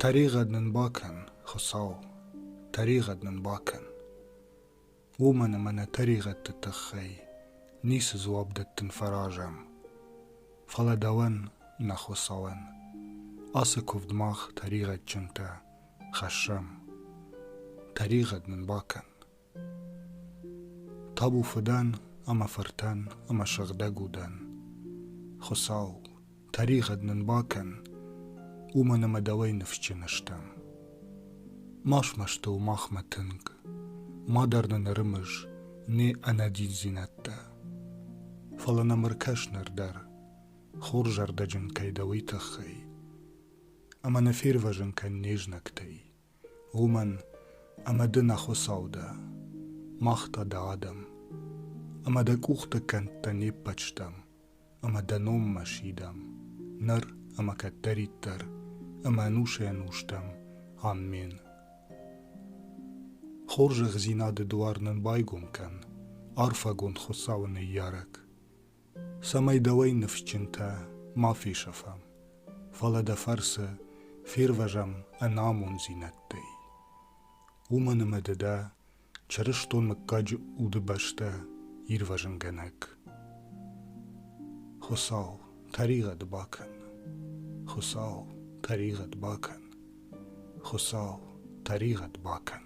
Тӕригъӕд нын бакӕн, Хуыцау, тӕригъӕд нын бакӕн. Уымӕн ӕмӕ нӕ тӕригъӕдты тыххӕй ницы дзуапп дӕттын фӕразӕм. Фӕлӕ дӕуӕн, нӕ Хуыцауӕн, ацы куывд мах тӕригъӕдджынтӕ хӕссӕм. Тӕригъӕд нын бакӕн. Табу фыдӕн ӕмӕ фыртӕн ӕмӕ сыгъдӕг удӕн. Хуыцау, тӕригъӕд нын бакӕн, уымӕн ӕмӕ дӕуӕй ныфсджын стӕм. Ма смӕсты у махмӕ тынг, мадӕр нын ӕрымыз не ӕнӕдиндзинӕдтӕ. Фӕлӕ нӕм ӕркӕс ныр дӕр, хорзӕрдӕджын кӕй дӕ, уый тыххӕй. Ӕмӕ нӕ фервӕзын кӕн не знӕгтӕй, уымӕн ӕмӕ ды нӕ Хуыцау дӕ, мах та дӕ адӕм, ӕмӕ дӕ къухты кӕндтӕ не ппӕт стӕм, ӕмӕ дӕ номмӕ сидӕм ныр ӕмӕ кӕддӕриддӕр ӕмӕ ӕнусӕй-ӕнустӕм. Аммен. Хорзӕхдзинады дуар нын байгом кӕн, арфӕгонд Хуыцауы ныййарӕг! цӕмӕй дӕуӕй ныфсджынтӕ ма фесӕфӕм, фӕлӕ дӕ фӕрцы фервӕзӕм ӕнамонддзинӕдтӕй. Уымӕн ӕмӕ ды дӕ чырыстон мыггаджы удыбӕстӕ ирвӕзынгӕнӕг. Хуыцау тӕригъӕд бакӕн! Хуыцау тӕригъӕд бакӕн! Хуыцау тӕригъӕд бакӕн!